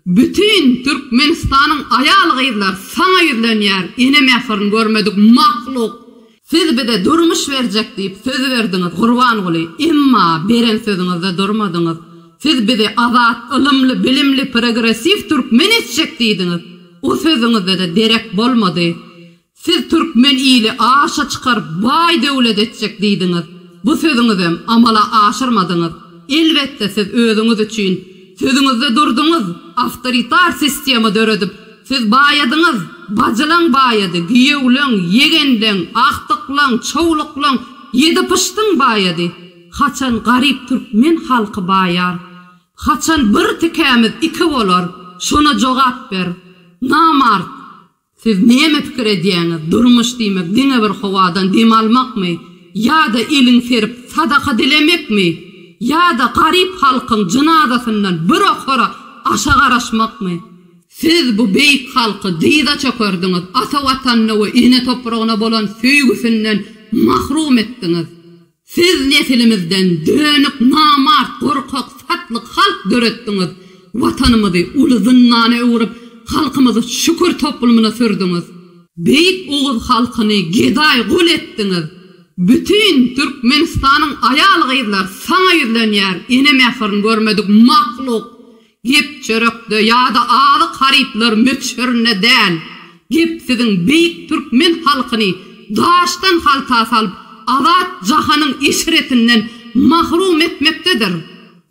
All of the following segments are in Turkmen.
Bütin Türkmenistanyň aýal gyzlar saňa ýüzlenýär ene mähirin görmedik mahluk. Siz bize durmuş berjek diýip söz berdiňiz Gurbanguly emma beren sözüňizde durmadyňyz. Siz bizi azat, ylymly, bilimli, progressiw türkmen etjek diýdiňiz. O sözüňizde-de derek bolmady. Siz türkmen ili aşa çykaryp baý döwlet etjek diýdiňiz. Bu sözüňizem amala aşyrmadyňyz. Elbetde siz özüňiz üçin sözüňizde durduňyz, awtoritar sistema döredip siz baýadyňyz, bajylaň baýady, giýewleň, ýegenleň, agtyklaň, çowluklaň, ýedi pyşdyň baýady. Haçan garyp türkmen halky baýar? Haçan bir tikämiz iki bolar? Şona jogap ber. Namart! Siz näme pikir edýäňiz, durmuş diýmek diňe bir howadan dem almakmy ýa-da elin serip sadaka dilemekmi ýa-da garyp halkyň jynazasyndan bir okara aşa garaşmakmy? Siz bu beýik halky dyza çökerdiňiz, ata Watanyna we ene topragyna bolan söýgüsinden mahrum etdiňiz. Siz nesilimizden dönük, namart, gorkak, satlyk halk döretdiňiz. Watanymyzy uly zyndana öwrüp, halkymyzy şükür toplumyna sürdüňiz. Beýik oguz halkyny gedaý gul etdiňiz. Bütin Türkmenistanyň aýal-gyzlar saňa ýüzlenýär, ene mähirini görmedik mahluk. Gep çörekde ýa-da azyk harytlary möçberinde däl. Gep siziň beýik türkmen halkyny daşdan halta salyp, azat jahanyň eşretinden mahrum etmekdedir.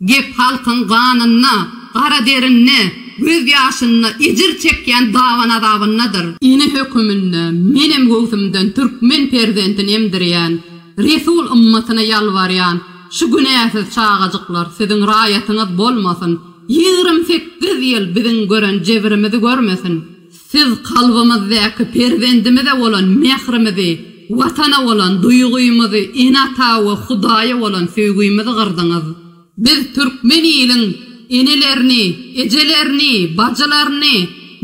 Gep halkyň ganynda, gara derinde, göz ýaşynda, ejir çekýän daban-azabyndadyr. Ene höküminde menem göwsümden türkmen perzentini emdirýän, resul ymmatyna ýalbarýan, Şu günäsiz çagajyklar siziň raýatyňyz bolmasyn, ýigrimi sekiz ýyl biziň gören jebirimizi görmesin. Siz kalbymyzdaky perzendimize bolan mährimizi, Watana bolan duýgymyzy, ene-ata we Hudaýa bolan söýgimizi gyrdyňyz. Biz türkmen iliň enelerini, ejelerini, bajylaryny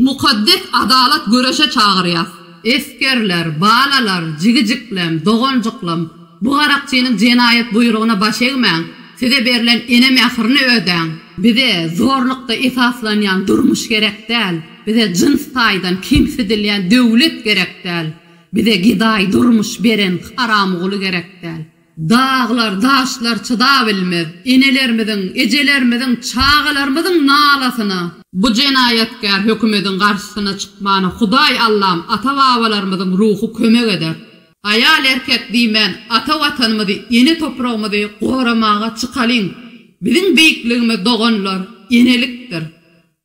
mukaddes adalat göreşe çagyrýas. Esgerler, balalar, jigijiklem, doganjyklam! Bu garakçynyň jenaýat buýrugyna baş egmäň, size berlen ene mähirini ödäň. Bize zorlukda esaslanýan durmuş gerek däl, bize jyns taýdan kemsidilýän döwlet gerek däl, bize gedaý durmuş beren haramguly gerek däl. Daglar, daşlar çydabilmez enelerimiziň, ejelerimiziň, çagalarymyzyň nalasyna. Bu jenaýatkär hökümediň garşysyna çykmana Hudaý Allam, ata-babalarymyzyň ruhy kömek eder. Aýal erkek diýmän ata watanymyzy ene topragymyzy goramaga çykalyň biziň beýikligimiz doganlar enelikdir.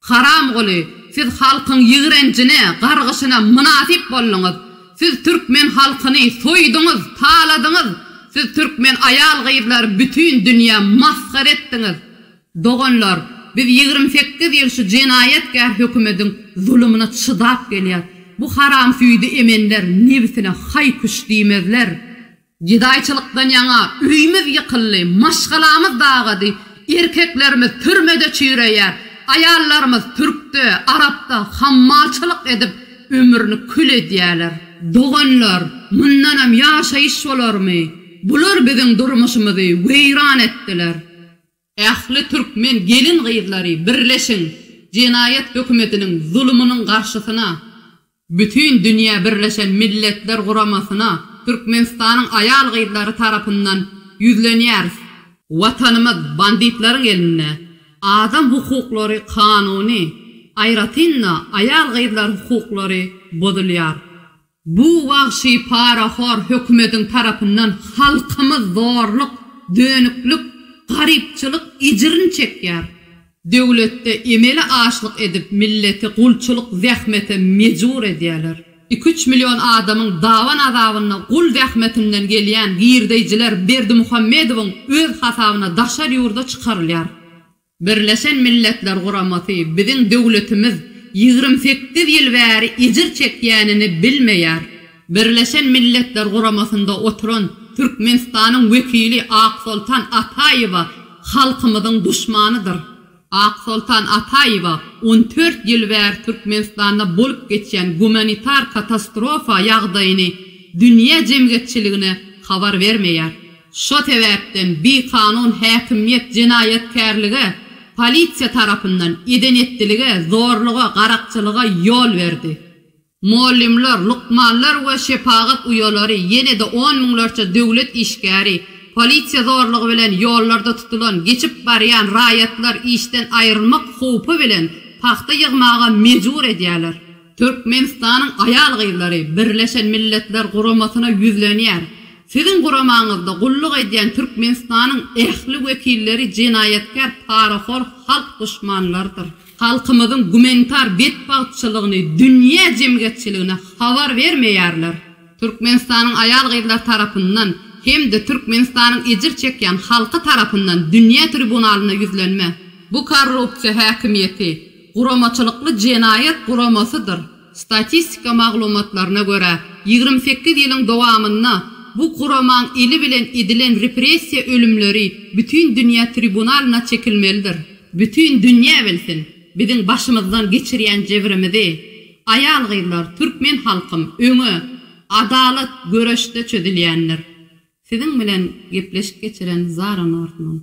Haramguly siz halkyň ýigrenjine gargyşyna mynasyp bolduňyz siz türkmen halkyny soýduňyz taladyňyz siz türkmen aýal gyzlary bütin dünýä masgara etdiňiz. Doganlar, biz ýigrimi sekiz ýyl şu jenaýatkär hökümediň zulumyna çydap gelýäs. Bu haramsüýdi emenler nebsine haý-küş diýmezler. Gedaýçylykdan ýaňa öýümiz ýykyldy, maşgalamyz dagady, erkeklerimiz türmede çüýreýär, aýallarymyz türkde, arapda hammalçylyk edip, ömrüni kül edýärler. Doganlar, mundanam ýaşaýyş bolarmy? Bular biziň durmuşymyzy weýran etdiler. Ähli türkmen gelin-gyzlary birleşiň jenaýat hökümetiniň zulumynyň garşysyna, bütin dünýä birleşen milletler guramasyna Türkmenistanyň aýal-gyzlary tarapyndan ýüzlenýäris. Watanymyz banditlaryň elinde, adam hukuklary kanuny, aýratyn-da aýal-gyzlar hukuklary bozulýar. Bu wagşy parahor hökümediň tarapyndan halkymyz zorluk, dönüklik, garypçylyk ejrin çekýär. Döwletde emeli açlyk edip milleti gulçylyk zähmete mejbur edýäler. Iki üç million adamyň daban azabynda gul zähmetinden gelýän girdeýjiler Berdimuhamedowyň öz hasabyna daşary ýurda çykarylýar. Birleşen Milletler Guramasy biziň döwletimiz ýigrimi sekiz ýyl bäri ejir çekýänini bilmeýär. Birleşen Milletler Guramasynda oturan Türkmenistanyň wekili Aksoltan Ataýewa halkymyzyň duşmanydyr. Aksoltan Ataýewa on dört ýyl bäri Türkmenistanda bolup geçýän gumanitar katastrofa ýagdaýyny dünýä jemgyýetçiligine habar bermeýär. Şo sebäpden bikanun häkimiýet jenaýatkärlige, polisiýa tarapyndan eden-etdilige, zorluga, garakçylyga ýol berdi. Mugallymlar, lukmanlar we şepagat uýalary, ýene-de on müňlerçe döwlet işgäri, polisiýa zorlugy bilen ýollarda tutulan, geçip barýan raýatlar işden aýrylmak howpy bilen pagta ýygmaga mejbur edýärler. Türkmenistanyň aýal-gyzlary Birleşen Milletler Guramasyna ýüzlenýär. Siziň guramaňyzda gulluk edýän Türkmenistanyň ähli wekilleri jenaýatkär, parahor halk duşmanlarydyr. Halkymyzyň gumanitar betbagtçylygyny dünýä jemgyýetçiligine habar bermeýärler. Türkmenistanyň aýal-gyzlary tarapyndan hem-de Türkmenistanyň ejir çekýän halky tarapyndan dünýä tribunalyna ýüzlenme. Bu korrupsiýa häkimiýeti guramaçylykly jenaýat guramasydyr. Statistika maglumatlaryna görä, ýigrimi sekiz ýylyň dowamynda bu guramaň eli bilen edilen repressiýa ölümleri bütin dünýä tribunalyna çekilmelidir. Bütin dünýä bilsin, biziň başymyzdan geçirýän jebrimizi, aýal-gyzlar, türkmen halkym, öňe, adalat göreşde çözülýändir. Siziň bilen gepleşik geçiren Zara Nordman.